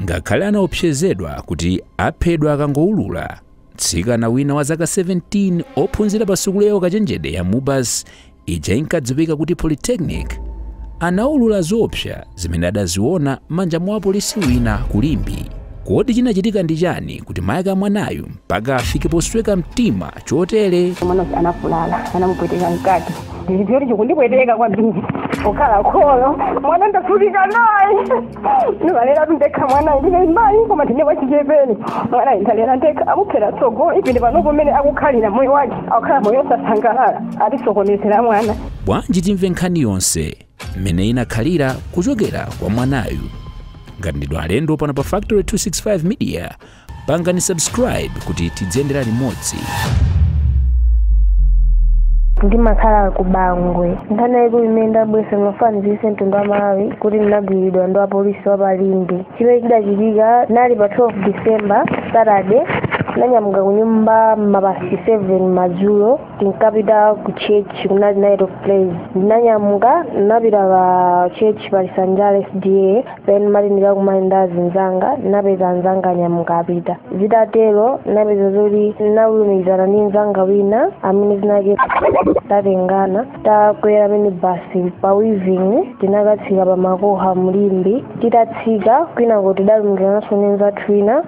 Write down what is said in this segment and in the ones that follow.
ngakhale anaopsezedwa kuti aphedwa akangowulula mtsikana wina wa zaka 17 ophunzira pa sukulu ya ukachenjede ya mubas ija inkadziwika kuti polytechnic anaulula zoopsa zimene adaziona m'manja mwa wapolisi wina ku limbe Kodi chinachitika ndi chani kuti mayi ake a mwanayu mpaka afike posweka mtima chotere? mwana anavulala anamupweteka mkati ndizipyoti chikundipweteka kwambiri pokhala kholo mwana ndavutika naye ndimalera ndekha mwanayu ndine mayi koma ndine wachichepere mwanayu ndalera ndekha amuphera tsogolo ndinde panopo mmene akukhalira moyo wake akukhala moyo osasangalala atisokonezera mwana Bwanji timve nkhani yonse? mmene inakhalira kuchokera kwa mwanayu ngati ndinu alendo pano pa factory 265 media pangani subscribe kuti tidziyendera limodzi ndimakhala ku bangwe nkhani yaikulu imene ndabwera mafanizise mtundu wa malawi kuti ndinagwiridwa ndi apolisi wa pa limbe chimene chidachitika kunali pa 12 december saturday ndanyamuka kunyumba mapasi 7 madzulo tinkapita ku church kunali night of praise ndinanyamuka ndinapita pa church pa lisanjala sda then ndimati ndikakumane ndi azinzanga ndinapeza anzanga anyamuka apita zitatero ndinapeza zoti ndinalumikizana ndi nzanga wina amene tinatengana takwera mini basi pa weaving tinakatsika pa makoka mlimbe titatsika kumeneko tidalumikizananso ndi nzathu wina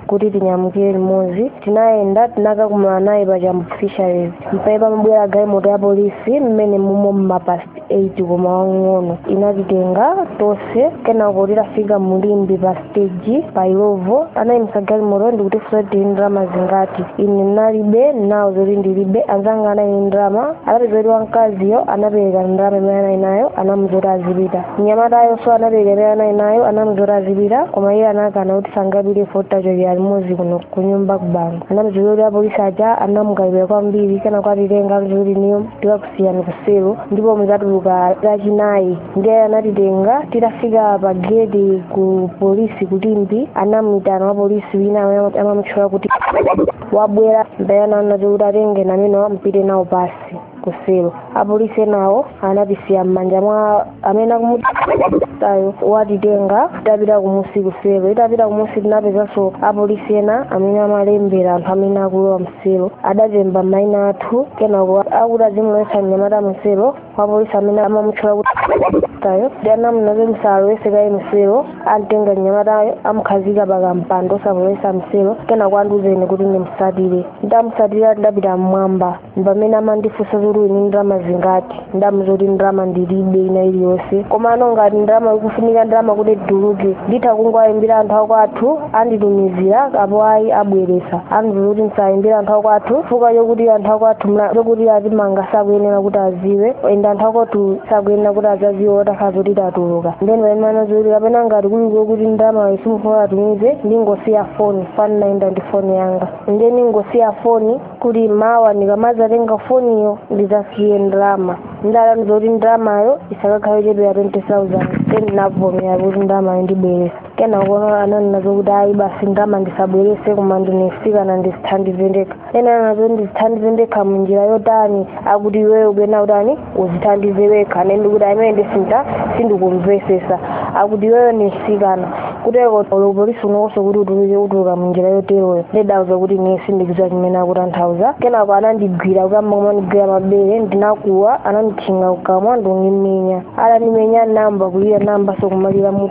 kuti tinyamukire limodzi tinayenda tinakakumana naye pa chambo fisheries mpamene pamabwera galimoto ya polisi mmene munali mmapast 8 koma wang'ono inatitenga tonse kenako titafika mu limbe pa stage pa illovo anayimisa galimoto ndikutifunsa kuti tili ndalama zingati ine ndinalibe nawauza zoti ndilibe anzanga anali ndalama anapeza kuti wamkaziyo anapereka ndalama imene anali nayo anamuza kuti azipita mnyamatayoso anatenga imene anali nayo anamuzoti azipita koma iye anakana kuti sangapite poti tachokera limodzi kuno kunyumba kubangwe anamuzoti kuti apolisi aja anamukalipira kwambiri kenako atitenga amuzoti ndiye tikakusiyani kuselo ndipo muzatuluka lachinayi ndiye anatitenga titafika pa geti ku polisi ku limbe anamuyitana wa polisi wina amene amamutchula kuti wabwera ndayana anati kuti atenge namene apite nawo pasi kuselo apolisi enawo anatisiya m'manja mwa amene akumutayo watitenga tapita kumusi kuselo titapita kumusi tinapezanso apolisi ena amene amalembera anthu amene akulowa mselo adatemba maina athu kenako akuti azimulowetsa mnyamata mselo wapolisi amene amamutchula kuti tayo ndi anamunazo musalowese kaye mselo amtenga mnyamatayo amukhazika pakampando osamulowetsa mselo kenako andiuza ine kuti ndimsatire ndamusatira ndapita mmwamba pamene amandifunsa zoti uli ndi ndalama zingati ndamuuza zoti ndalama ndilibe ina iliyonse komano ngati ndalama ikufunika ndalama kuti ndituluke nditha kungowaimbira anthu akwathu anditumizira apo ayi abweresa andiuza kuti ndisaimbire anthu akwathu chifukwa chokuti anthu akwathu zokuti atimanga sakuyenera kuti aziwe ende anthu akwathu sakuyenera kuti azaziwe otakhala zoti tatuluka ndeno pamene ananena zoti kapena ngati kuli kokuti ndalama yo sukufuna atumize ndingosiya foni chifukwa ndinaenda ndi foni yanga nde ndingosiya foni kuti mawa ndikamazatenga foniyo ndizasiye ndalama ndalama zakuti ndalamayo isakakhala yochepera 20000 then ndinavomera kuti ndalamayo ndibweresa kenakono ananena zokuti ayi basi ndalama ndisabwerese koma ndine mtsikana ndizithandize ndekha ende ananena zoti ndizithandize ndekha munjira yotani akuti iweyo pena utani uzithandize wekha ine ndikuti ayi ine ndithu sindikumvesesa akuti iweyo ni msikana kuteko uli upolisi uno ngosokuti utuluke utuluka munjira yoteroyo ndidauza kuti ine sindikudziwa chimene akutanthauza kenako anandigwira kuyamba kumandigwira mabere ndinakuwa ananditchinga kukamwa ndikundimenya atandimenya ndinayamba kulira ndinayambaso kumalira mu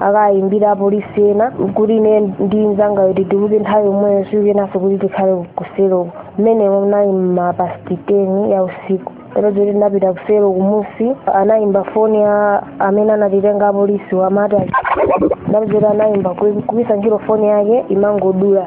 akayimbira apolisi ena kuti ine ndi mzanga yo tituluke nthawi yomweyo sikuyenanso kuti tikhale kuselo mmenemo nali m'ma pasti 10 ya usiku ndapeza kuti tinapita kuselo kumusi anayimba foni amene anatitenga apolisi wa mmataa ndapeza kuti anali aweruka ku ntchito foni yake imangodula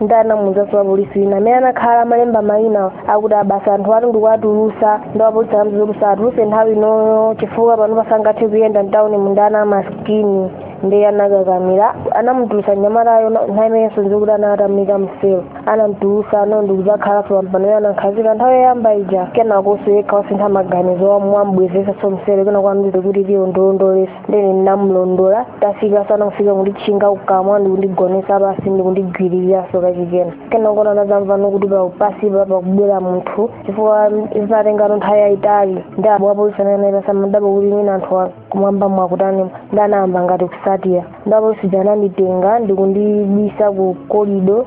ndiye anamuuzanso wapolisi wina amene anakhala amalemba mayina akuti a basi anthu ati ndikuwatulusa nde wapolisi anamuuza usawatuluse nthawi inoyo chifukwa pano pasangathe kuyenda mtawuni mu ndi ana amasikini ndiye anakakamira anamutulusa mnyamatayo nthawi imenenso nkuti ine atandiika mselo ananditulusa ine ndikudzakhalanso panja pano anandikhazika nthawi yoyamba ija kenakonso yekha wasintha maganizo wandibwezesanso mselo kenako wandiuza kuti tiyo undilondole ndiye ndinamulondola tafika sana kufika kunditchinga kukamwa ndikundigonesa pasi ndikundigwiririranso kachikena kenako anadzamvano kuti pa- pasipa pakubwera munthu chifukwa zinatengano nthawi yayitali ndi wapolisi winayo naye amadabwa kuti mwina anthu a- kumwamba mwakutani nde anayamba ngati kusatira nde apolisi aja ananditenga ndikundibisa ku kolido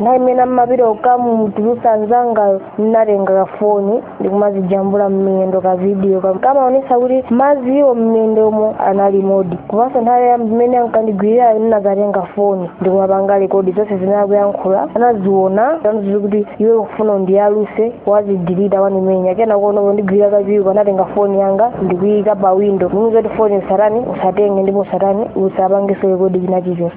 nthawi imene amapita kukamutulutsa anzangayo ndinatenga kafoni ndikumazijambula mmiyendo ka vidiyo kam- kumaonesa kuti magaziwo mmiyendomo analimodi komanso nthawi imene ankandigwiririrayo ndinazatenga foni ndikumapanga rekodi zonse zimene akuyankhula anaziona ananena kuti iwe ukufuna undiyaluse wazidilita wandimenya kenakono pondigwiririra kachiwiri anatenga foni yanga ndikuyika pa windo ndikunena zoti foni usatani usatenge ndipo usatani usapangeso rekodi china chilichonse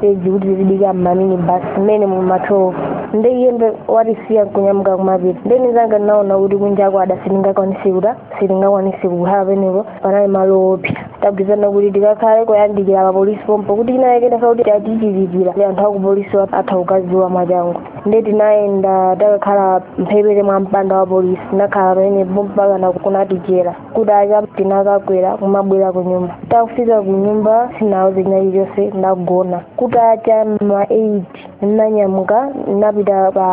peji kuti tizidikira ma mini basi mmene mumateromo nde iyeyo watisiya nkunyamuka kumapita nde nizanga ndinaona kuti kunja kwada sitingakwanisi kuta sitingakwanisi kukhala penepo panali malo opsa tagwirizana kuti tikakhale kuyandikira papolisi pompo kuti china chilichonse chitatichitikira anthu akupolisi wa- atha kuziwa mwachangu nde tinayenda takakhala mphepete mwa mpanda wa polisi tinakhala pamenepo mpakana kunatichera kutacha tinakakwera kumabwera kunyumba titakafika kunyumba sinauze china chilichonse ndagona kutacha ma 8 ndinanyamuka ndinapita pa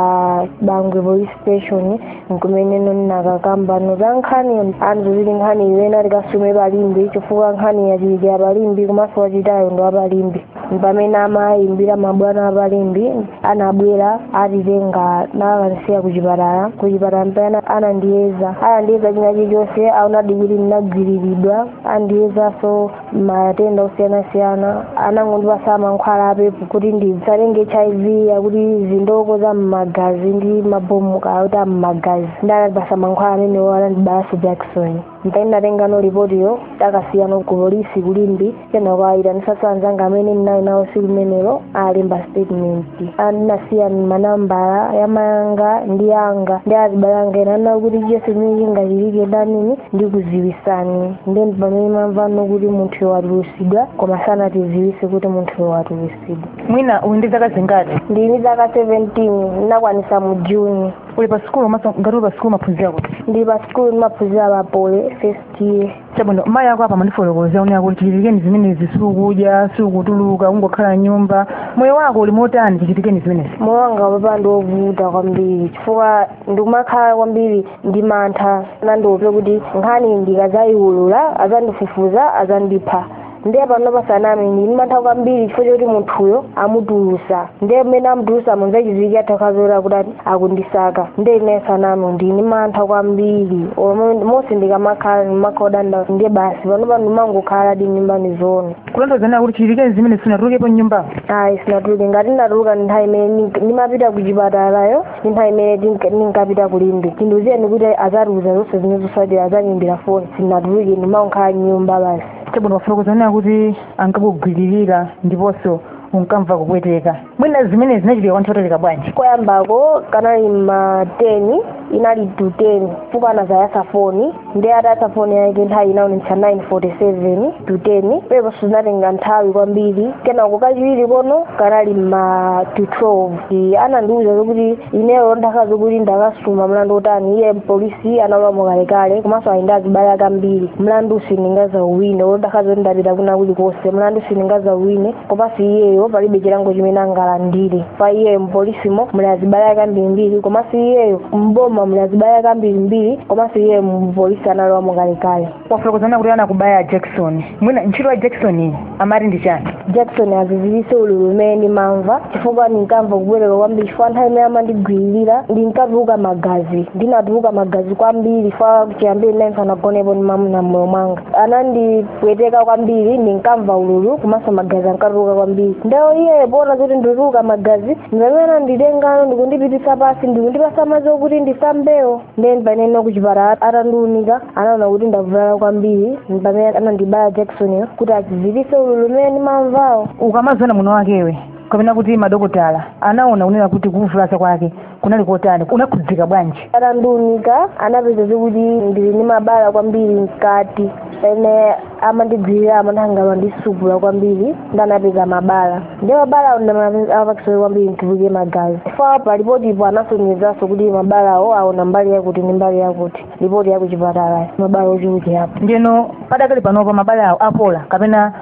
bangwe police station nkumene ndinakakambano za nkhani anatiuza kuti nkhani iyi tikasume pa limbe chifukwa nkhani yachitikira pa limbe komanso wachitayo ndi wapa limbe pamene amayimbira mabwana apa limbe anabwera atitenga nkukatisiya kuchipatala kuchipatala mpene anandiyeza anandiyeza china chilichonse aonadi kuti ndinagwiriridwa andiyezaso matenda osiyanasiyana anangondipasa mankhwala a pep kuti ndisatenge hiv ya kuti chindoko za mmagazi ndi mabomu kaya kuti a mmagazi nde anandipasa mankhwala amenewo anandibayaso jakisoni mpamene tinatengano lipotilo takasiyano ku polisi ku limbe kenako ayitanisa azanga amene ndinali nawo siku limenelo alemba statement and ndinasiya manambala yamayanga ndi yanga ndi azibale anga ena anauza kuti chonse chimene chingachitike ndinani ndikuziwisani nde ndi pamene ndamvano kuti munthuyo watulusidwa koma sanatiziwise kuti munthuyo watulusidwa mwina uli ndi zaka zingati ndili ndi zaka 17 ndinakwanisa mu juni uli pa sikulu komaso ngati uli pa sikulu umaphunzira kuti ndili pa sikulu ndimaphunzira pa poly first year chabwino mayi ako apa amandifotokozera kunena kuti chichitikireni zimenezi siukudya siukutuluka kungokhala mnyumba moyo wako uli motani chichitikireni zimenezi moyo wanga panopa ndi wovuta kwambiri chifukwa ndikumakhala kwambiri ndi mantha anandiopseza kuti nkhani ndikazayiwulula azandifufuza azandipha ndiye panopa sindiname ndili ndi mantha kwambiri chifukwa choti munthuyo amutulusa ndiye mmene amutulusamo zachiziwikire athakhoza kuti akundisaka ndiye ine sindiname ndili ndi mantha kwambiri Olo- monse ndikamakhala ndimakhala ndi nkhawa ndiye basi panopa ndimangokhaladi mnyumba ndi zoona kulongosola kuti chichitikireni zimenezi sinatulukepo mnyumba ayi sinatuluke ngati ndatuluka nthawi imene ndink- ndimapita ku chipatalayo ndi nthawi imene ndink- ndinkapita kulimbe chindiuzireni kuti azatiuza zonse zimene zotsatira azandiimbira foni sinatuluke ndimangokhala mnyumba basi chabwino wafotokoza kunena kuti ankakugwiririra ndiponso unkamva kupweteka mwina zimenezi zinachitika kwa nthawi yotalika bwanji koyambako kanali ma 10 inali to 10 chifukwa anazayatsa foni ndi atayatsa foni yake nthawi inaonetsa 947 to 10 penaponso zinatenga nthawi kwambiri kenako kachiwiriko kanali ma to 12 Iye anandiwuza zokuti ineyo olo ndakhala zokuti ndakasuma mlandu wotani iye mpolisi analamo kalekale komanso ali ndi azibale ake ambiri mlandu sindingazauwine olo ndakhala zoti ndapita kwina kulikonse mlandu sindingazauwine komanso iyeyo palibe chilango chimene angalandire pa iyeyo mpolisimo muli azibale ake ambirimbiri komanso iyeyo mboma muli azibale ake ambirimbiri komanso iyeyo mpolisi analowamo kalekale wafotokoza kunena kuti anakubaya jakisoni mwina ntchito ya jakisoni iyi amati ndi chani jakisoni aziziritse ululu umene ndimamva chifukwa ndinkamva kupweteka kwambiri chifukwa nthawi imene amandigwiririra ndinkatuluka magazi ndinatuluka magazi kwambiri chifukwa chiyambire ndinali sinagonepo ndi mamuna mmoyo mwanga anandipweteka kwambiri ndinkamva ululu komanso magazi ankatuluka kwambiri nde iye poona zoti ndituluka magazi ndimamene ananditengano ndikundipitisa pasi ndikundipasa madzi okuti ndisambewo ndeno pamene kuchipatala atandiunika anaona kuti ndavulala kwambiri pamene anandibaya jakisoniyo kuti aziziritse ululu umene ndimamvawo ukamaziona mwini wakewe kapena kuti madokotala anaona kunena kuti kuvulaza kwake kunali kotani unakhudzika bwanji atandiunika anapeza zikuti ndili ndi mabala kwambiri mkati pamene amandigwirira amandisupula kwambiri nde anapeza mabala ndi mabalawo ndamapangitsa kwambiri ndituluke magazi chifukwa pa lipotipo anasonyezanso kuti mabalawo aona mbali yakuti ndi mbali yakuti lipoti ya kuchipatalayo mabala ochulukirapo ndiyeno padakali panopa mabala awo apola kapena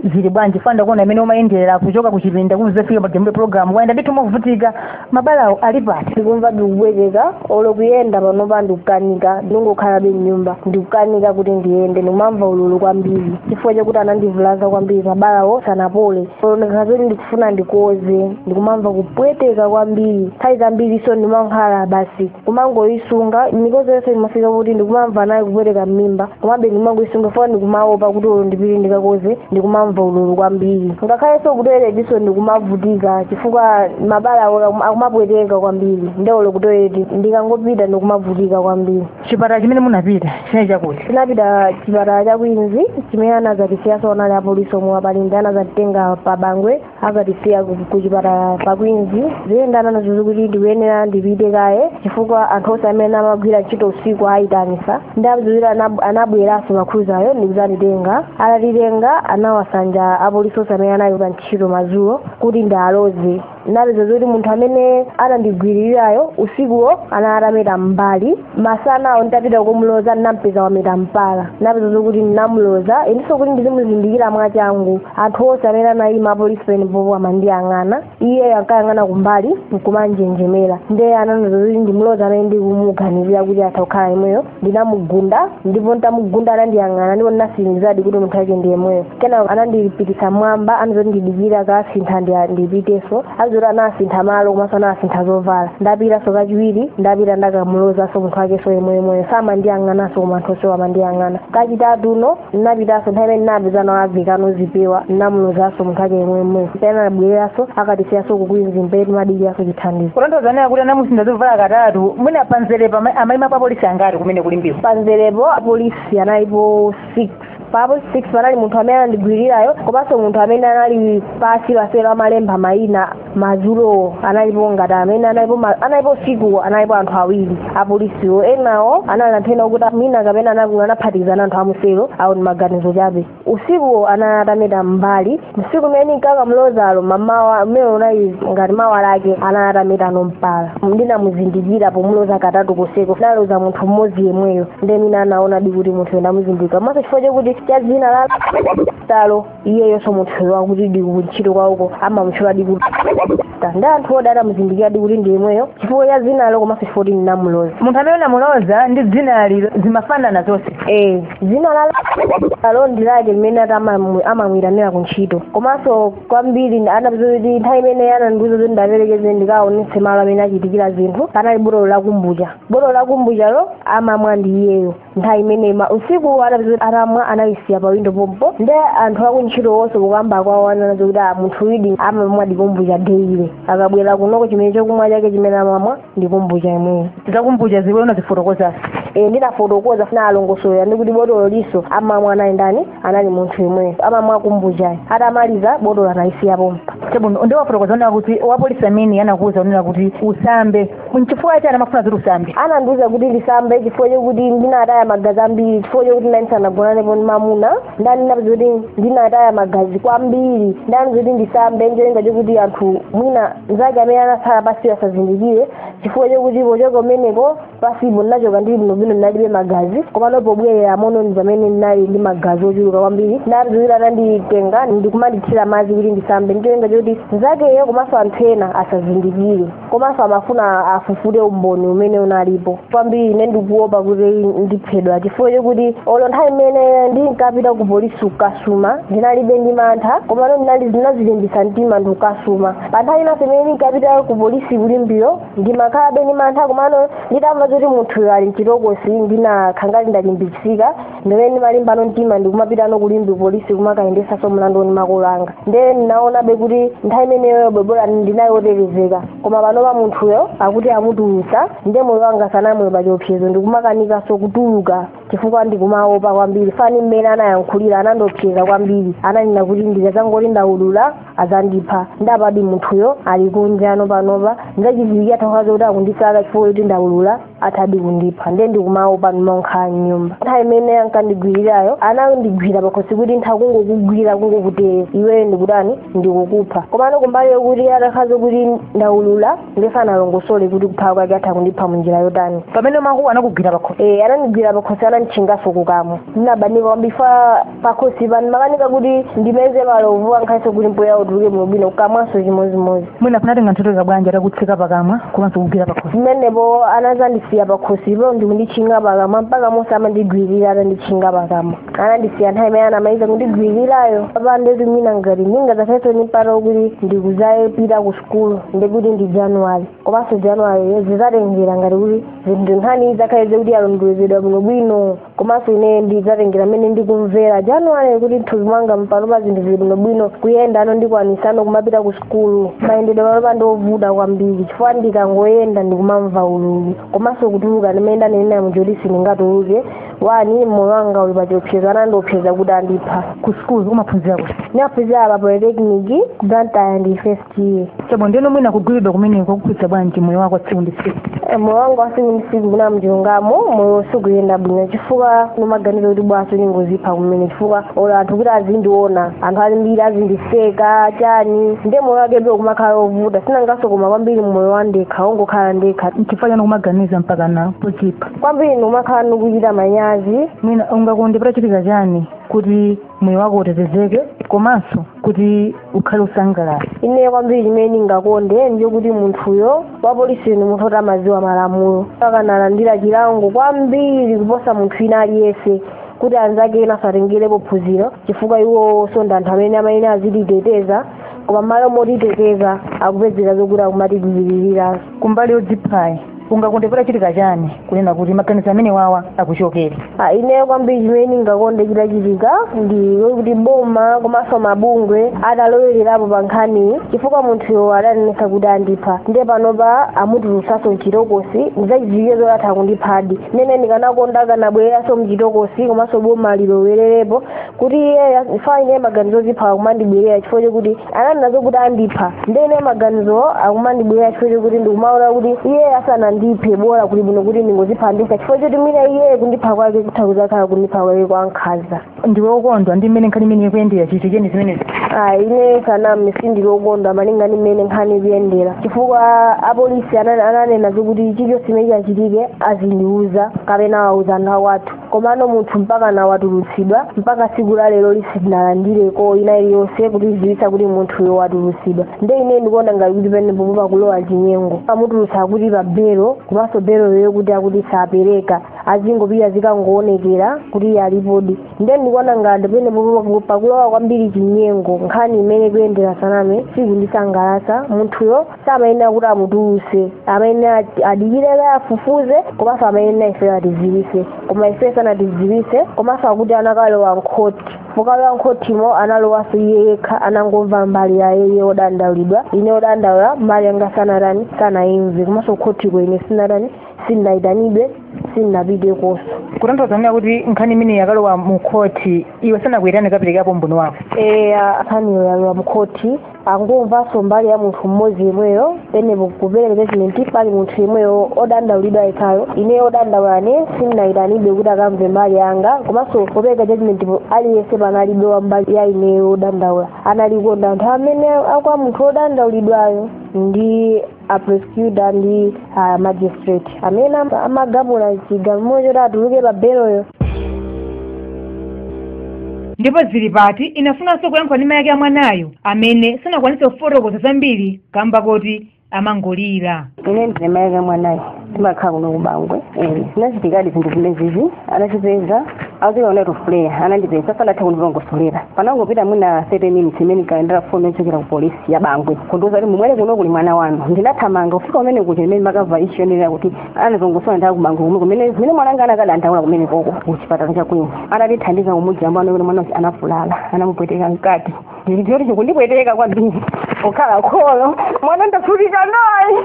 zili bwanji chifukwa ndakuona mmene umayendera kuchoka ku chipinda kuzafika tiyambire program wayenda ndithu movutika mabalawo alipo ndikumva kupweteka olo kuyenda panopa ndikukanika ndikungokhalabe mnyumba ndikukanika kuti ndiyende ndikumamva ululu kwambiri chifukwa chakuti anandivulaza kwambiri mabalawo sanapole olo ndikakhala zoti ndikufuna ndikoze ndikumamva kupweteka kwambiri nthawi zambirinso ndimakhala basi kumangoyisunga mikozo yonse imafika kuti ndikumamva naye kupweteka m'mimba komabe ndimangoyisunga chifukwa ndikumaopa kuti olo ndipite ndikakoze ndikumamva ululu kwambiri ngakhalenso kutoiletinso ndikumavutika chifukwa mabala awo akum- akumapweteka kwambiri nde olo kutoileti ndikangopita ndikumavutika kwambiri chipatala chimene munapita chinali chakuti tinapita chipatala cha kwinzi chimene anazatisiyaso anali apolisi omwe apa Limbe anazatitenga pa bangwe akatisiya ku- kuchipatala pa kwinzi ndiye anandiuza zokuti ndikuyenera ndipite kaye chifukwa anthu onse amene amagwira ntchito usiku ayitanisa ndi achiwiri anab- anabweranso pa Cruiser-yo ndikuzatitenga atatitenga anawasanja apolisi onse amene anali pa ntchito madzulo kuti ndiwaloze ndinapeza zoti munthu amene anandigwiririrayo usikuwo anali atameta m'mbali masanawo nditapita kukamloza ndinampeza wameta mpala napeza zokuti ndinamloza ndinso kuti ndizimuzindikira mwachangu anthu onse amene anayima apolisi pompopo amandiyang'ana iyeyo ankayang'ana kumbali nkumanjenjemera ndiye anandiuza kuti ndimloze amene ndikumuganizira kuti atha kukhala yemweyo ndinamugunda ndipo nditamugunda anandiyang'ana ndipo ndinatsimikizadi kuti munthu wake ndi yemweyo kenako anandipititsa m'mwamba anazoti ndidikire akasintha ndi ndipiteso azoti anasintha malo komanso anasintha zovala ndapitaso kachiwiri ndapita ndakamulozaso munthu wakeso yemweyemweyo samandiyang'anaso koma anthu onsewo amandiyang'ana kachitatuno ndinapitaso nthawi imene ndinapeza awavekano zipewa ndinamulozaso munthu wake yemweyemweyo pena anabwereranso akatisiyaso ku Queens mmene timadikiraso chithandizo kutanthauza kuti anamusintha zovala katatu mwina panzerepo ama- amaimapo apolisi angati kumene ku Limbeko panzerepo apolisi analipo 6 pa apolisi 6 panali munthu amene anandigwirirayo komanso munthu amene anali pasi pa selo amalemba mayina madzulowo analipo ngati amene analipo ma- analipo usikuwo analipo anthu awiri apolisiwo enawo anali anthu ena okuti mwina kapena anakulu anaphatikizana anthu amuselo awo ndi maganizo chabe usikuwo anali atameta m'mbali tsiku limene nkakamlozalo mamawa umene unali ngati mawa lake anali atametano mpala ndinamuzindikira pomloza katatu koseko ndaloza munthu mmodzi yemweyo nde mwina anaonadi kuti munthuyo ndamuzindikira komaso chifukwa chakuti cha dzina la Talo iyeyonso munthuyo akutidi ku ntchito kwawoko amamutchuladi kuti Ta, nde anthuwodi anamuzindikiradi kuti ndi yemweyo chifukwa cha dzinalo komanso chifukwa kuti ndinamuloza munthu amene ndinamuloza ndi dzinalo zimafanana zonse eh dzina la Talo ndi lake limene ati amamu- amamuyitanira ku ntchito komanso kwambiri anapeza kuti nthawi imene anandiuza kuti ndaperekeze ndikaonetse malo amene achitikira zinthu panali botolo la kumbucha botolo la kumbuchalo amamwa ndi iyeyo nthawi imene ma- usiku anapeza kuti atamwa analisiya pa windo pompo nde anthu akuntchito wonse kukamba kwawo ananena zakuti a munthuyudi amamwadi kumbucha deile akabwera kunoko chimene chokumwa chake chimene amamwa ndi kumbucha imweyo za kumbuchazi iwe unazifotokoza e, ndinafotokoza ndinawalongosolera ndi kuti botololiso amamwa anali ndani anali munthu imweyo amamwa kumbuchayo atamaliza botolo anayisiya pompo chabwino nde wafotokoza kunena kuti wapolisi amene anakuwuza kunena kuti usambe nchifukwa chani amafuna kuti usambe anandiwuza kuti ndisambe chifukwa chokuti ndinataya magazi ambiri chifukwa chokuti ndinali ndisanagonanepo ndi mamuna ndanena kuti ndinataya magazi kwambiri nde ananena kuti ndisambe ndi cholinga chokuti anthu mwina mzake amene anatsala pasiyo asazindikire chifukwa chokuti pochoka kumeneko pasipo ndinachoka ndili bwinobwino ndinalibe magazi komano pobwereramono ndi pamene ndinali ndi magazi ochuluka kwambiri ndati kuti ananditenga ndikumandithira madzi kuti ndisambe ndi cholinga choti mzakeyo komanso anthu ena asazindikire komanso amafuna afufute umboni umene unalipo kwambiri ine ndikuopa kuti ndiphedwa chifukwa chokuti olo nthawi imene ndinkapita ku polisi kukasuma ndinalibe ndi mantha komano ndinali ndinazilimbisa mtima ndikukasuma pa nthawi inanso imene ndinkapita ku polisi ku Limbeko ndimakhalabe ndi mantha komano nditamva zoti munthuyo ali mchitokosi ndinakhala ngati ndalimbitsika ndimmene ndinalimbano mtima ndikumapitano ku Limbe polisi kumakayendesaso mlandu ni makolo anga nde ndinaonabe kuti nthawi imeneyoyo bola ndinali wotetezeka koma panopa munthuyo akuti amutulutsa nde moyo wanga ukadali pa chiopsezo ndikumakanikanso kutuluka chifukwa ndikumaopa kwambiri ndi mmene anayankhulira anandiopseza kwambiri ananena kuti ndikazangoti ndaulula azandipha nde apa munthuyo ali kunjano panopa nzachidziwikire atadziwa kuti akundisaka chifukwa choti ndaulula athadi kundipha ndiye ndikumaopa ndimakhala mnyumba nthawi imene ankandigwirirayo anandigwira pakhosi kuti ntha kungokugwira kungokutere iweyo ndikutani ndikukupha komano kumbali yokuti atakhala kuti ndaulula ndiye sanalongosole kuti kupha kwake atha kundipha munjira yotani pamene ukuti anakugwira pakhosi e anandigwira pakhosi ananditchingaso kukamwa ndinabanika kwambiri pakhosi pano ndimakanika kuti ndimeze malovu angakhalenso kuti mpweya utuluke bwinobwino kukamwanso chimodzimodzi mwina kunatenga nthawi yotalika bwanji atakutseka pakamwa komanso kugwira pakhosi pamenepo anazandisiya pakhosipo ndikunditchinga pakamwa mpaka monse amandigwirira atanditchinga pakamwa anandisiya nthawi imene anamaliza kundigwirirayo apa ndeti mwina ngati ndingadzakhalenso ndi mpata wokuti ndikudzapitanso ku sukulu ndikuti ndi januwali komanso januwali zizatengera ngati kuti zinthu nkhani idzakhale kuti yalondolezedwa bwinobwino komanso ine ndidzatengera mmene ndikumvera januwali kuti mthupi mwanga panopa zinthu zili bwinobwino kuyendano ndikwanisano kumapita ku sukulu mayendedwe panopa ndi ovuta kwambiri chifukwa ndikangoyenda ndikumamva ululu komanso kutuluka ndimmene ndanenera muja oti sindingatuluke chifukwa moyo wanga uli pachiopsezo anandiopseza kuti andipha ku sukulu umaphunzira kuti ndimaphunzira pa polytechnic ku blantyre ndi first iya chabe ndeno mwina kugwiridwa kumeneko kwakukhudza bwanji moyo wako wa tsiku ndi tsiku Eh, moyo wanga wa tsiku ndi tsiku mwina mchilungamo moyo sukuyenda bwino chifukwa ndimaganiza kuti bwanji ndingozipha kumene chifukwa olo anthu kuti azindiona anthu ambiri azindiseka chani ndiye moyo wakebe ukumakhala ovuta sinangaso koma kwambiri moyo wa ndekha wongokhala ndekha nchifukwa chani ukumaganiza mpakana zodzipha kwambiri ndikumakhala ndikuchita manyazi mwina ungakonde patachitika chani kuti moyo wako utetezeke komanso kuti ukhale osangalala ine kwambiri chimene ndingakonde ndi chokuti munthuyo wapolisi ni munthu oti amadziwa malamulo akanalandira chilango kwambiri kuposa munthu ina aliyense kuti anzake ena asatengerepo phunziro chifukwa iwoso ndi anthu amene amayenera azititeteza koma mmalo motiteteza akupezeka zokuti akumatigwiririra kumbali yodziphayi ungakonde patachitika chani kunena kuti maganizo amenewawa akuchokere Ah, ineyo kwambiri chimene ndingakonde chitachitika ndi kuti boma komanso mabungwe atalowererapo pa nkhaniyi chifukwa munthuyo adanenetsa kuti andipha ndiye panopa amutulutsanso mchitokosi ndizachidziwikire zoti atha kundiphadi nde ine ndikanakonda akanabwereranso mchitokosi komanso boma lilowererepo kuti iyeyo andipha ine maganizo ozipha akumandibwerera chifukwa chokuti ananena zokuti andipha nde ine maganizo akumandibwerera chifukwa chokuti ndikumaona kuti iyeyo asanandiphe bola kuli bwino kuti ndingozipha ndekha chifukwa choti mwina iyeyo kundipha kwake kutha kuzakhala kundipha kwake kwankhanza ndiwe okondwa ndi mmene nkhani imene ikuyendera chichitikireni zimenezi ayi ine zanazi sindili okondwa malinga ndi mmene nkhani ikuyendera chifukwa apolisi anane- ananena zokuti chilichonse chimene chachitike azindiuza kapena awauza anthu akwathu komano munthu mpaka pano watulutsidwa mpaka tsiku la leroli sitinalandireko ina iliyonse kutidziwitsa kuti munthuyo watulutsidwa nde ine ndikuona ngati kuti penepo pakulowa chinyengo amutulutsa akuti pa belo komanso beloyo kuti akuti sapereka azingopita azikangoonekera kuti alipodi nde ndikuona ngati penepo pakulowa kwambiri chinyengo nkhaniyi mmene ikuyendera zanazi sikundisangalasa munthuyo samayenera kuti amutuluse amayenera adikire kaye afufuze komanso amayenera ifeyo atidziwise koma ifeyo sanatidziwise komanso akuti anakalowa mkhoti pokalowa mkhotimo analowanso iye yekha anangomva mbali ya iye odandaulidwa ine odandaula mbali yanga sanatani sanayimve komanso mkhotiko ine sinatani sindinayitanidwe sindinapitekonso kutanthauza kunena kuti nkhani imene yakalowa mu khoti iwe sanakuyitane kaperekapo umboni wako eya nkhaniyo yalowa mkhoti angomvanso mbali ya munthu mmodzi yemweyo penepo popereka judgment pali munthu yemweyo odandaulidwa yekhayo ine odandaulane sindinayitanidwe kuti akamve mbali yanga komanso popereka judgmentpo aliyense panalibe wa mbali ya ineyo odandaula analiko ndi anthu amene akwa munthu odandaulidwayo ndi aprosecutor ndi uh, magistrate amene am- amagamula chigamulo choti atuluke pa beloyo ndipo Tili Pati inafunanso kuyankhula ndi mayake a mwanayo amene sanakwanitse kufotokoza zambiri kamba koti amangolira ine ndine mayake a mwanayo ndimakhala kuno kubangwe zinachitikadi zinthu zimenezi anandipeza azika one of player anandipeza sanatha kundilongosolera panangopita mwina 30 minutes ndinalandira foni yochokera ku polisi ya bangwe kundiuza kuti mubwere kuno kuli mwana wanu ndinathamanga kufika kumene kuja imene makava ichi yonenera kuti anazongosola nthawi kubangwe kumwe kumene kumene mwana anga anakadandaula kumene koko ku chipatala cha kwini anatithandiza kumuyeza anamuona mwana uja anavulala anamupweteka mkati ndilitoti chikundipweteka kwambiri pokhala kholo mwana ndavutika naye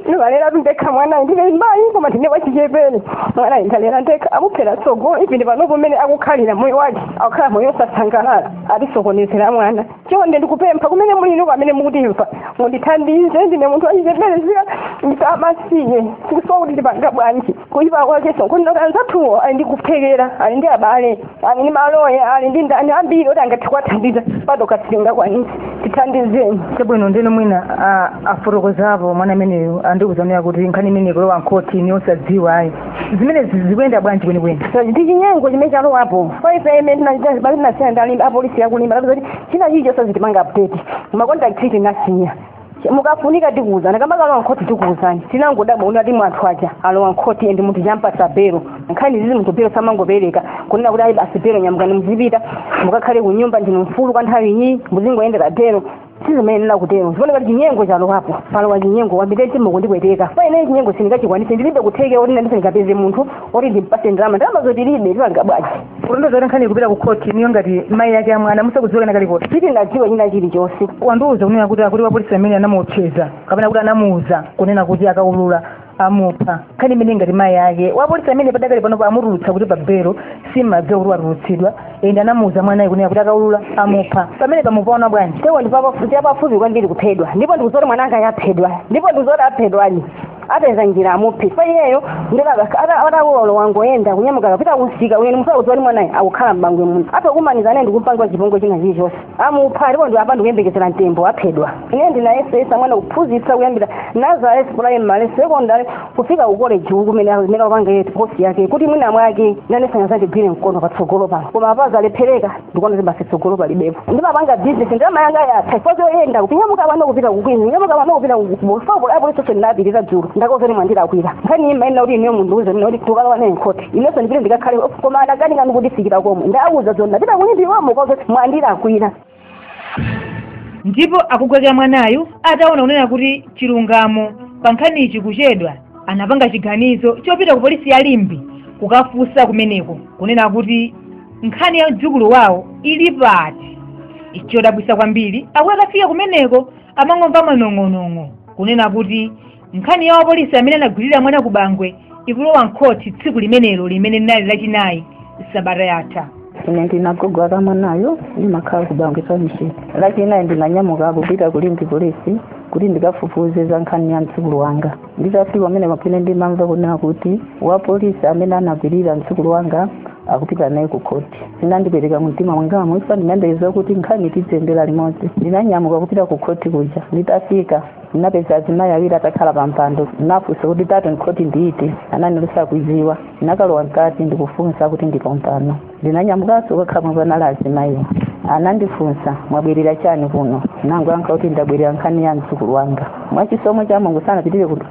ndikulera ndekha mwanayi ndine mayi koma ndine wachichepere mwanayi ndalera ndekha amuphera tsogolo ndipo panopo mmene akukhalira moyo wake akukhala moyo osasangalala atisokonezera mwana chonde ndikupempha kumene muliko amene mukutimva mundithandize ndine munthu wachichepere zika ndine wamasiye tikusowa kuti tipanga bwanji kuyipa kwake sokondoka anzathuwo ali ndi kuthekera ali ndi abale ali ndi maloya ali ndi ndani ambiri oti angathe kuwathandiza pa tokha sitingakwanitse tithandizeni chabwino ndiye mwina a- afotokozapo mwana ameneyo akundiuza ine kuti nkhani imeneyi ikulowa mkhoti inu osadziwa ayi zimenezi zikuyenda bwanji kwenikweni ndi chinyengo chimene chalowapo chifukwa ife mmene tinasiyana ndi apolisi aku Limbe kuti china chilichonse azitipanga update makontakiti tinasiya mukafunika tikuwuzani akamakalowa nkhoti tikuwuzani tinangodabwa kuti ati munthu uja walowa nkhoti endi munthu uja ampatsa belo nkhani zake izi munthu belo samangopereka kunena kuti ayi basi belo nyamukani muzipita mukakhale ku nyumba ndinu mfulu kwa nthawi iyi muzingoyendera belo sizimayenera kutero zikuoneka kuti chinyengo chalowapo palowa chinyengo kwambiri mtima ukundipweteka chifukwa ine chinyengo sindingachikwanise ndilibe kuthekera kuti ndinganene ndikapeze munthu oti ndimpase ndalama ndalama zo tilibe tipange bwanji kulondoza kuti nkhani ikupita ku khoti inuyo ngati mayi ake amwana musakudziwa kena kalikonse sitinadziwe china chilichonse wandiuza kunena kuti akuti wapolisi ameneyu anamuopseza kapena kuti anamuuza kunena kuti akaulula amupha nkhani imeneyi ngati mayi ake wapolisi amene padakali panopo amutulutsa kuti pabelo simumadziwa kuti watulutsidwa ende anamuuza mwanayu kunena kuti akaulula amupha pamene mukupaona bwanji apo ndipafupi kwambiri kuphedwa ndipo ndikuziona mwana wanga aphedwa ndipo ndikuziona aphedwani apeza njira amuphe chifukwa iyeyo ndi wa ufulu akungoyenda kunyamuka kupita kumsika ndiyenso mukudziwa mwanayo akukhala m'Bangwe muno atha kukumanizana naye ndikumpanga chipongwe china chilichonse amupha ndipo ine apa ndikuyembekezera mtembo aphedwa ine ndinayesetsa mwana kuphunzitsa kuyambira nursery primary secondary kufika ku college uku kumene akupanga iye course yake kuti mwina mwake nanenso adzandigwire mkono patsogolo pano koma apa zalephereka ndikuona kuti basi tsogolo palibepo ndimapanga business ndalama yanga yatha chifukwa choyenda kunyamuka pano kupita ku Queens kunyamuka pano kupita ku One Stop apolisi onse ndinapita dzulo ndawauza kuti mwandilakwira nkhani imayenera kuti ineyo mundiuze kunena kuti tikukalowa naye nkhoti inenso ndipite ndikakhale koma adakanika kutifikira komwe ndawauza dzulo ndapita ku Limbe ndawauza mwandilakwira ndipo agogo ake a mwanayu ataona kunena kuti chilungamo pa nkhaniyi chikuchedwa anapanga chiganizo chopita ku polisi ya Limbe kukafunsa kumeneko kunena kuti nkhani ya mdzukulu wawo ili pati chodabwitsa kwambiri akuti akafika kumeneko amangomva manong'onong'o kunena kuti nkhani ya wapolisi amene anagwirira mwana ku Bangwe ikulowa mkhoti tsiku limenelo limene linali lachinayi sabata yatha ine ndine agogo ake a mwanayo ndimakhala ku Bangwe namiyango tsiku lachinayi ndinanyamuka kupita ku Limbe polisi kuti ndikafufuze za nkhani ya mdzukulu wanga nditafika kumene ine ndimamva kunena kuti wapolisi amene anagwirira mdzukulu wanga akupita naye ku khoti zinandipweteka mumtima mwanga chifukwa ndimayembekeza kuti nkhaniyi tiziyendera limodzi ndinanyamuka kupita ku khoti kuja nditafika ndinapeza azimayi awiri atakhala pa mpando ndinafunsa kuti third nkhoti ndi iti anati sakuidziwa ndinakalowa mkati ndikufunsa akuti ndi pompano ndinanyamukanso kukakhala pomwe panali azimayiwo anandifunsa mwabwerera chani kuno ndinangoyankha kuti ndabwerera nkhani ya mdzukulu wanga mwachisomo cha mulungu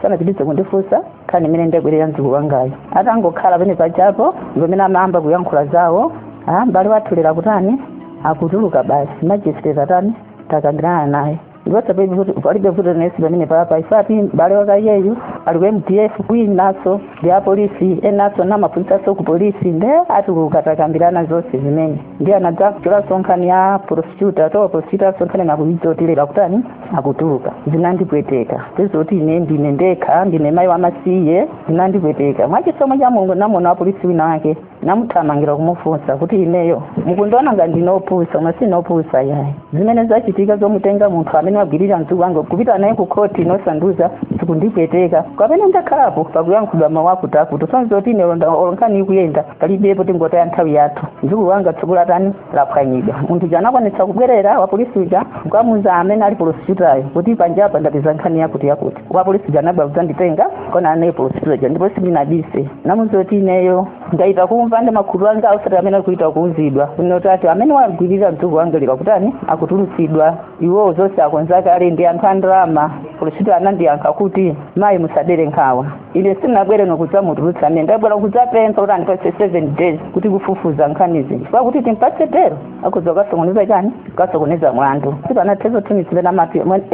sanapitirize kundifunsa nkhani imene ndabwerera mdzukulu wangayo atangokhala pena pakepo zomene amayamba kuyankhula zawo ah, mbale wathu lero akutani akutuluka basi majisiteti atani takambirana naye ndipo zapepi kuti palibe vuto nesi pamene papa isati mbale wakeyu ali ku mdf winaso ndi apolisi enaso amaphunzisaso ku polisi nde atuluka takambirana zonse zimene ndi anadza kuchola sonkhani ya prosecutor to prosecutor sonkhani nakuyidzotile pakutani akutuluka zinandipweteka zizoti ine ndili ndekha ndine mayi wamasiye zinandipweteka mwachisomo cha mulungu namuona wapolisi wina wake namuthamangira kumufunsa kuti ineyo mukundiona ngati ndine opusa koma sine opusa yayi zimene zachitika zomutenga munthu amene wagwirira mdzukulu wanga kupita naye ku khoti nkusanduza zikundipweteka kwambiri ndakhalapo pakuyankhulidwa mawu akuti akuti zonzoti ine olonkhani ikuyenda palibepo tingotaya nthawi yathu mdzukulu wanga tsiku latani laphwanyidwa munthu uja anakwanitsa kubwerera wapolisi uja kukamuza amene ali prosecutor-yo kuti panjapa ndapeza nkhani yakuti yakuti wapolisi uja anabwera kudzanditenga kuonana naye prosecutor uja ndipo sindinabise namuuza kuti ineyo ndaita kumva ndi makutu anga osati amene akuita kuuzidwa kunoti ati amene wagwirira mdzukulu wanga lero akutani akutulutsidwa iwowo zonse akonza kale ndi anthu a ndalama prosecutor anandiyankha kuti mayi musadere nkhawa ine sindinabwere nkudzamutulutsa ameneyu ndabwera kudzapempha kuti andipatse seven days kuti kufufuza nkhanizi chifukwa kuti timpatse belo akhoza kukasokoneza chani kukasokoneza mlandu sipanathenso two three ma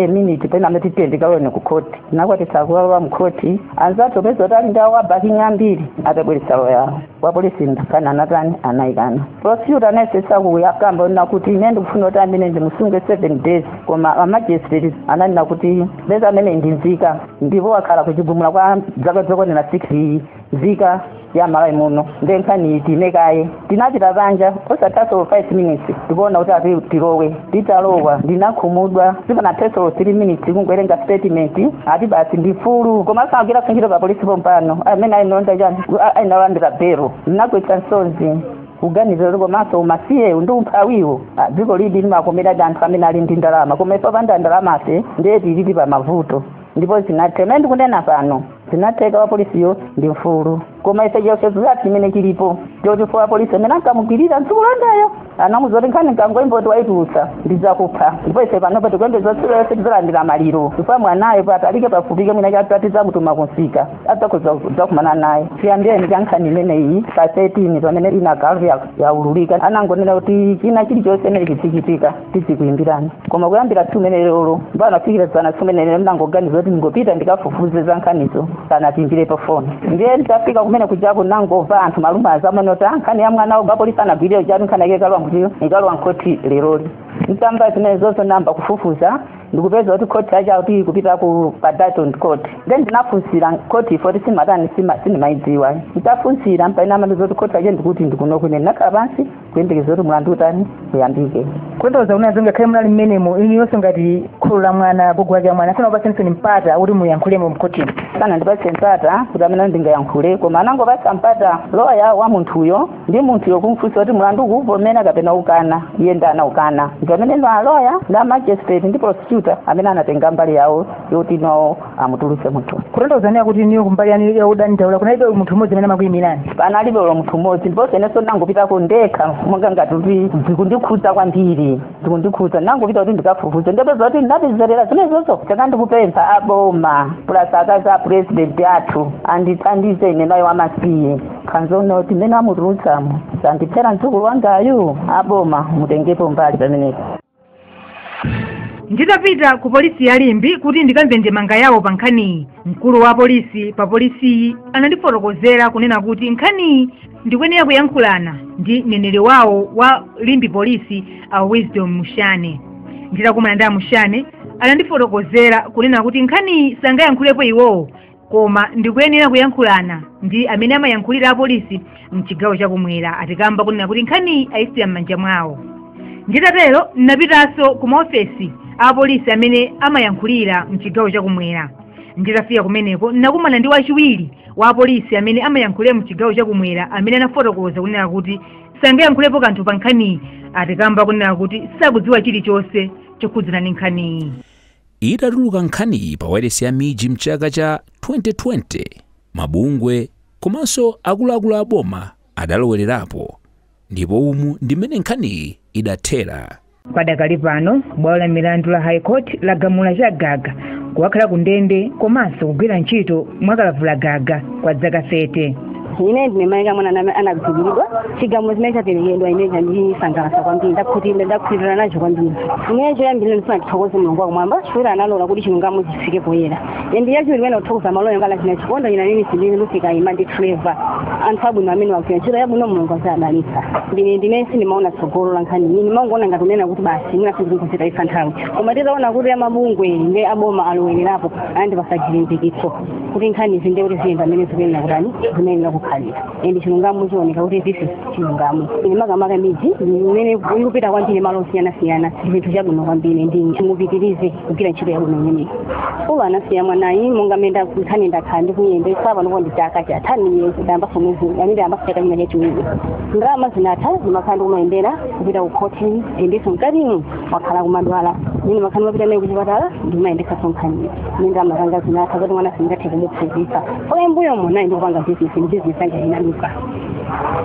minute pena amati tiyeni kaloweni ku khoti nakwanitsa kukalowa mkhoti anzathu poza kuti ali ndi awo a backing ambiri atabweretsa loya yawo wapolisi nkhani anatani anayikana prosecutor anayesesa kuyakamba onena kuti ine ndikufuna kuti ameneyu ndimusunge seven days koma amagistrate ananena kuti poza ameneyu ndi nzika ndipo wakhala ku Chigumula kwa zaka zokwanira 6 nzika ya malawi muno nde nkhani iyime kaye tinapita panja osathaso 5 minutes tikuona kuti ati tilowe titalowa ndinakhumudwa sipanathaso 3 minutes kungowerenga statement ati basi ndi mfulu koma asagwire ntchito pa polisi pompano amene analandira chani analandira belo ndinagwetsa misozi kuganiza kuti komanso umasiyewu ndi umphawiwu ah, dziko ilidi limakomeradi anthu amene ali ndi ndalama koma ife opanda ndalamafe ndiye tilidi pa mavuto ndipo zinatheka mene ndikunena pano zinatheka wapolisiyo ndi mfulu koma ife chiopsezo chathu chimene chilipo choti poti wapolisi amene ankamugwirira mdzukulu wangayo anamuuza kuti nkhani nkangoimva kuti waitulutsa ndizakupha ndipo ife panopa tikuyembeza tsiku lililonse tizalandira maliro chifukwa mwanayo patalike pafupike mwina china tidzamutuma kumsika adzakhoza kudzakumana naye chiyambireni cha nkhani imeneyi pa 13 pamene inakhala yaululika anangonena kuti china chilichonse chimene chichitika tidzikuyimbirani koma kuyambira tsiku limenelolo mpaka kufikira dzana tsiku limenelolo nnangoganiza kuti ndingopita ndikafufuze za nkhanizo sanatiimbire pa foni ndiye nditafika kumene kujako nangomva anthu manong'onong'o azamene kuti "Ah, nkhani ya mwana uja wapolisi anagwirira ujatu nkhani yake ikalowa kuti ikalowa nkhoti leroli ntamva zimenezozo nayamba kufufuza ndikupeza kuti khoti yake akuti ikupita ku pa Dalton court then ndinafunsira khoti yoti sindimatani sima- sindimayidziwa nditafunsira mpaina anandiuza kuti khoti yache ndikuti ndikuno koma ine ndinakhala pansi kuyembekeza kuti mulandu utani uyambike kutanthauza kunena zoti ngakhale munali mmenemo inuyonso ngati kholo la mwana agogo wake wa mwana sanakupatseni mpata kuti muyankhulemo mkhotimo sanandipatse mpata kuti mmene ndingayankhule koma anangopatsa mpata loya wa munthuyo ndi munthuyo kumfunsa kuti mlandu akuwuvomera kapena akukana iye ndi anaukana ndiye pameneno aloya ndi amagistrate ndi prosecutor amene anatenga mbali yawo yoti no amutulutse munthu kutanthauza kuti inuyo kumbali yanu ya odandaula kunalibe munthu mmodzi amene amakuyimirani panalibe ulo munthu mmodzi ndiponso inenso ndangopitako ndekha monga ngati kuti zikundikhudza kwambiri zikundikhudza ndangopita kuti ndikafufuze ndipo zoti ndinapezerera zimenezozo choncho ndikupempha aboma plus akazi a president athu andithandize inenayo wamasiye nkhanza zoti mmene amutulutsamo azandiphera mdzukulu wangayu aboma mutengepo mbali pamenepo nditapita ku polisi ya Limbe kuti ndikamve ndemanga yawo pa nkhaniyi mkulu wa polisi pa polisiyi anandifotokozera kunena kuti nkhaniyi ndikuyenera kuyankhulana ndi mneneri wawo wa Limbe polisi a wisdom mushane nditakumana ndi amushane anandifotokozera kunena kuti nkhaniyi sangayankhulepo iwowo koma ndikuyenera kuyankhulana ndi amene amayankhulira apolisi mchigawo chakumwera pokamba kunena kuti nkhaniyi ayisiya m'manja mwao nditatero ndinapitanso ku maofesi a apolisi amene amayankhulira mchigawo chakumwera nditafika kumeneko ndinakumana ndi wachiwiri wa apolisi amene amayankhulira mchigawo chakumwera amene anafotokoza kunena kuti sangayankhulepo kanthu pa nkhaniyi pokamba kunena kuti sakudziwa chilichonse chokhudzana ndi nkhaniyi Itatuluka nkhaniyi pa wailesi ya MIJ m'chaka cha 2020, mabungwe komanso akuluakulu a boma adalowererapo ndipo umu ndi mmene nkhaniyi idathera. Padakali pano, bwalo la milandu la High Court lagamula Chagaga kukakhala kundende komanso kugwira ntchito mwakalavulagaga kwa dzaka 30. ine ndine mai ake a mwana amene anagwiriridwa chigamulo chimene chaperekedwa ine chandisangalatsa kwambiri ndakhutira ndakhutira nacho kwambiri ine choyambirira ndifuna ndithokoze mulungu wakumwamba chifukwa analola kuti chilungamo chifike poyera ndiye chachiwiri ine kuthokoza maloya ngati akina Chikondi ina nini sindini lufika ima ndi treva anthu abwino amene agwira ntchito yabwino mulungu azadalitsa ndine ndine sindimaona tsogolo la nkhani iyi ndimangoona ngati kunena kuti basi mwina tikuzitayitsa nthawi koma titaona kuti amabungwe ndi aboma alowererapo anandipasa chilimbikitso kuti nkhani zimenezi kuti ziziyenda mmene zikuyenera kutani zimayenera kukhalira ende chilungamo chioneke kuti this is chilungamo ine makamaka MIJ imene ikupita kwambiri malo osiyanasiyana ndi chinthu chabwino kwambiri ndi mupitirize kugwira ntchito yabwino imeneyi ulo anasiya mwanayi monga mmene nda- nkhani ndakhala ndikuyendesa panopo ndi chaka chatha niye ndayambaso mwezi amene ndayambaso chaka china chachiwiri ndalama zinatha ndimakhala ndikumayendera kupita ku khoti endiso mkatimu wakhala kumadwala mmene mumakhala mumapita naye kuchipatala ndimayendesa msonkhano mmene ndamakanga zinatha kuti mwana singathe kumuphunzisa koma mmbuyomo ine ndikupanga bizinesi ndi bizinesi yanga inaduka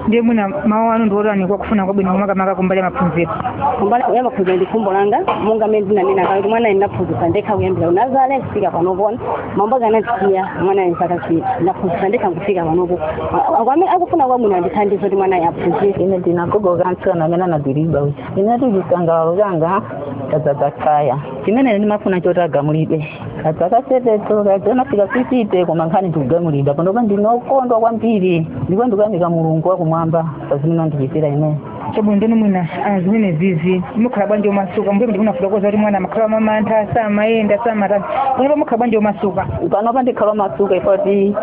ndiye mwina mawu anu ndi otani kwa akufuna kwabwino makamaka kumbali ya maphunziro kumbali ya maphunziro ndi khumbo langa monga mmene ndinanena kale kuti mwana ndinaphunzisa ndekha kuyambira ku nazale kufika panopona bambo ake anandisiya mwana enzakachita ndaphunzisa ndekha kufika panopo ndiye amene akufuna kwabwino andithandize kuti mwana aphunzire ine ndinagogoka mtsikana amene anagwiridwa uja ineyo chisangalalo changa chadzadza tsaya chimene ndimafuna choti agamulidwe ka zaka sate zo sizinafike fifite koma nkhani ndi kugamulidwa panopa ndine okondwa kwambiri ndipo ndikuyamika mulungu wakumwamba pa zimene andichitira ineyo chabwino ndiye mwina ah, zimenezizi mukhala bwanji omasuka mmbuyomu munafotokoza kuti mwana amakhala mwamantha samayenda samatani panopa mukhala bwanji omasuka panopa ndikhala omasuka ife poti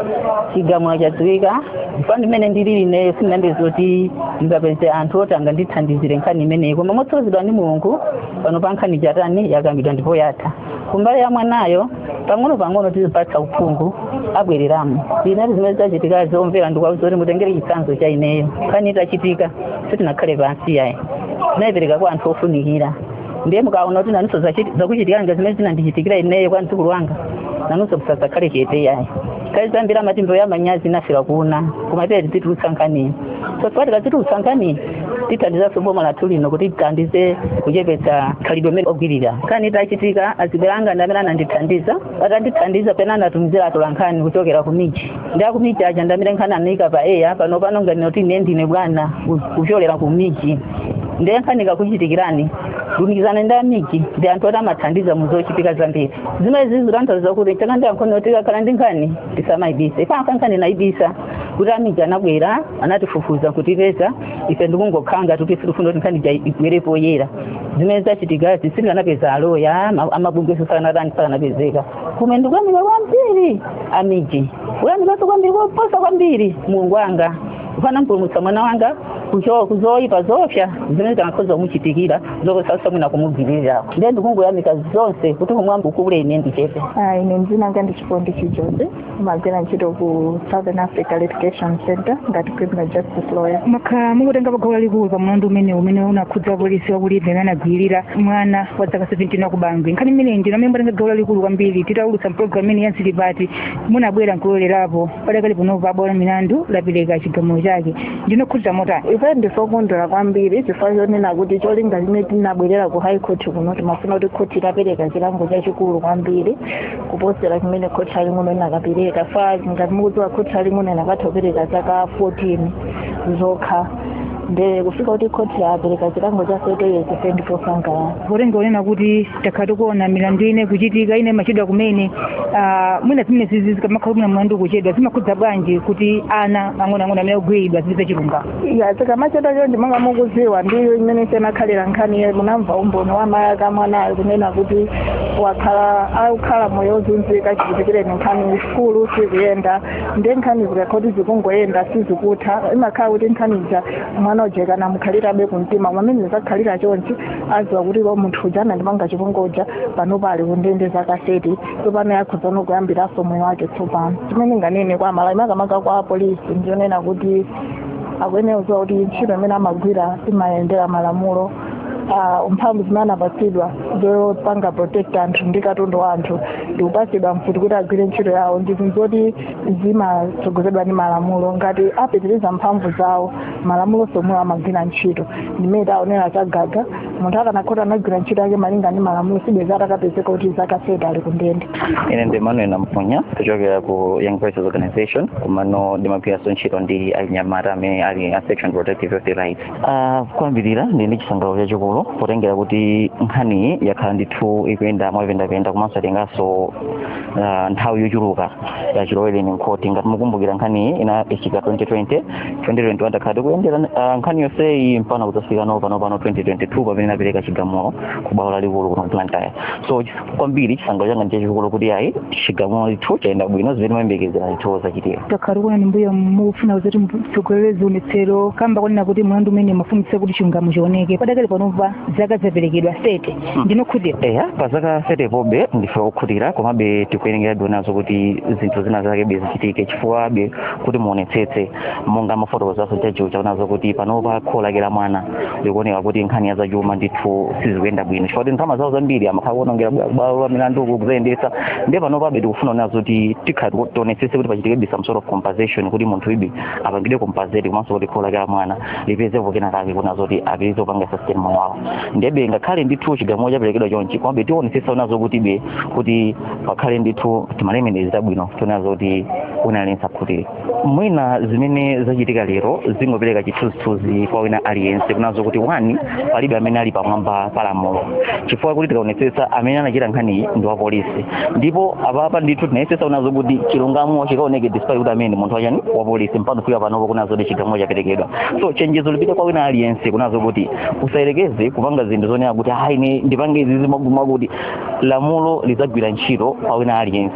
chigamulo chadziwika ndipo ndimene ndilili ineyo sindimadziwa zoti ndingapeze anthu oti angandithandizire nkhani imeneyi koma motsogozedwa ndi mulungu panopa nkhani yatani yakambidwa ndipo yatha kumbali ya mwanayo pang'ono pang'ono tizimupatsa uphungu abwereramo ndiye zimene zachitika omvera ndikuwauza kuti mutengere chitsanzo cha ineyo nkhani itachitika sitinakhale pansi yayi tinayipereka kwa anthu ofunikira ndiye mukaona kuti nanunso zakuchitikirani zimene zinandichitikira ineyo kwa mdzukulu wanga nanunso musadzakhale chete yayi kale zambiri amati mbewu ya manyazi inafera ku una koma ife tizitulutsa nkhaniyi so tikati tizitulutsa nkhaniyi tithandizanso boma lathu lino kuti tithandize kuchepetsa khalidwe limeneli logwirira nkhani itachitika azibale anga ndi amene anandithandiza atandithandiza pena ananditumizira atola nkhani kuchokera ku miji ndi aku miji aja ndi amene nkhaniyi anayika pa eya panopa ndinganene kuti ine ndine bwana ku- kuchokera ku miji ndiye nkhani ikakuchitikirani lumikizanani ndi a miji ndi anthu oti amathandiza mu zochitika zambiri zimene zikutanthauza kuti kaya ndi ang'ono tikakhala ndi nkhani tisamayibise ife tikanakhala nkhani tinayibisa kuti a miji anabwera anatifufuza kutipeza ife ndikungokhala ngati kuti sitifuna kuti nkhani ija ibwere poyera zimene zachitikazi sitikanapeza aloya ama- amabungwe sakanatani sakanapezeka komanso ndikuyamika kwambiri a miji kuyamikanso kwambiri koposa kwambiri mulungu wanga chifukwa anampulumutsa mwana wanga kucho- ku zoyipa zopsa zimene zikanakhoza kumuchitikira zokusautsa mwina kumugwirirako ndiye ndikungoyamika zonse kuti kumwamba ukule ine ndichepe Ah, ine dzina langa ndi chikondi chijozi ndimagwira ntchito ku southern africa litigation center ngati criminal justice lawyer mwakhala mukutenga gawo lalikulu pa mlandu umeneu umene unakhudza wapolisi wa ku limbe amene anagwirira mwana wa dzaka 17 wa ku bangwe nkhani imeneyi ndinu amene mwatenga gawo lalikulu kwambiri titaulutsa pulogalamu imene ya zili pati munabwera nkulolerapo padakali panopa bwalo la milandu lapereka chigamulo chake mukukhutira motani ife ndife okondwera kwambiri chifukwa chonena kuti cholinga chimene tinabwerera ku high court kuno timafuna kuti khoti lipereke chilango chachikulu kwambiri kuposera chimene khoti laling'ono linakapereka chifukwa ngati mukudziwa khoti laling'ono linangotha kupereka zaka 14 zokha nde kufika kuti khoti lapereka chilango cha 30 years ife ndife osangalala kutengera kunena kuti takhala tikuona milandu ina ikuchitika ina imachedwa kumene ah, mwina zimenezizi zikamakhala mwina mlandu kuchedwa zimakhudza bwanji kuti ana ang'onoang'ono amene ogwiridwa azipeza chilungamo ya zikamachedwa chonchi monga mukuziwa ndi mmene yakhalira nkhaniyi munamva umboni wa mayi ake a mwanayo kunena kuti wakhala akukhala moyo wozunzika chichitikireni nkhani kusukulu sizikuyenda ndiye nkhani zikakhala kuti zikungoyenda sizikutha imakhala kuti nkhani ija mwana uja ikanamukhalirabe kumtima koma mmene zakhalira chonchi aziwa kuti munthu uja anandipanga chipongwe chija panopa ali kundende zaka 30 tsopano akhozano kuyambiranso moyo wake tsopano chimene ndinganene kwa amalawi makamaka kwa apolisi ndi chonena kuti akuyenera kuziwa kuti ntchito imene amagwira imayendera malamulo ah, mphamvu zimene anapatsidwa zopanga protect anthu ndi katundu wa anthu ndikupatsidwa mfuti kuti agwire ntchito yawo ndi zinthu zoti zimatsogozedwa ndi malamulo ngati apitiriza mphamvu zawo malamulonso omwewo amagwira ntchito ngati mmene taonera chigaga munthu akanakhala kuti anagwira ntchito yake malinga ndi malamulo sibwezi atapezeka kuti zaka sate ali kundende ine ndi manuel namponya kuchokera ku young voices organization komano ndimagwiranso ntchito ndi anyamata amene ali a section protective of the rights uh, kwambiri ndili ndi chisangalalo chachikulu potengera kuti nkhaniyi yakhala ndithu ikuyenda mwapendapenda komanso yatenganso uh, nthawi yochuluka chilowereni mkhoti ngati mukumbukira nkhaniyi inachitika 2020 2021 takhala tikuyendera ah, nkhani yonseyi mpana kudzafikano pano pano 2022 pamene inapereka chigamulo ku bwalo lalikulu kuno blantyre so chis- kwambiri chisangalalo changa ndi chachikulu kuti ayi chigamulo ndithu chayenda bwino zimene timayembekezera ndithu zachitika takhala tikuonani mbuyomu mukutsogolera zionetsero kamba konena kuti mlandu umene mumafunitsitsa kuti chilungamo chioneke padakali panopa zaka zaperekedwa 30 Mm. ndinu okhutira eya pa zaka 30 pobe ndife okhutira komabe tikuyenerabe kuona zokuti zinthu zina zake zichitike chifukwabe kuti muonetsetse monga amafotokozanso achiwo chaona zokuti panopa kholo lake la mwana likuoneka kuti nkhani ya zachuma ndithu sizikuyenda bwino chifukwa kuti ndalama zawo zambiri amakhala akuonongera bwalo la milandu kuzayendetsa ndiye panopabe tikufuna kuona zokuti tikhale tionetsetse kuti pachitike some sort of compensation kuti munthuyu be apangidwe compensate komanso kuti kholo lake la mwana lipezepo kena kake kuona zoti apeze kupanga sustain moyo wawo ndiyebe ngakhale ndithu chigamulo chaperekedwa chonchi komabe tionetsetsa kuona zokutibe kuti pakhale ndithu ti ma remedies tabwino tione zoti wina aliyense akhutire mwina zimene zachitika lero zingopereka chithunzithunzi kwa wina aliyense kunena zokuti wani palibe amene ali pamwamba pa lamulo chifukwa kuti tikaonetsetsa amene anachita nkhaniyi ndi wapolisi ndipo apapa ndithu tinayesetsa kunena kuti chilungamo chikaoneke despite kuti amene munthu wachani wapolisi mpaka kufika panopo kunena kuti chigamulo chaperekedwa so chenjezo lipite kwa wina aliyense kunena kuti usayerekeze kupanga zinthu zonena kuti ayi ine ndipange izizi mwakuti kuti lamulo lizagwira ntchito kwa wina aliyense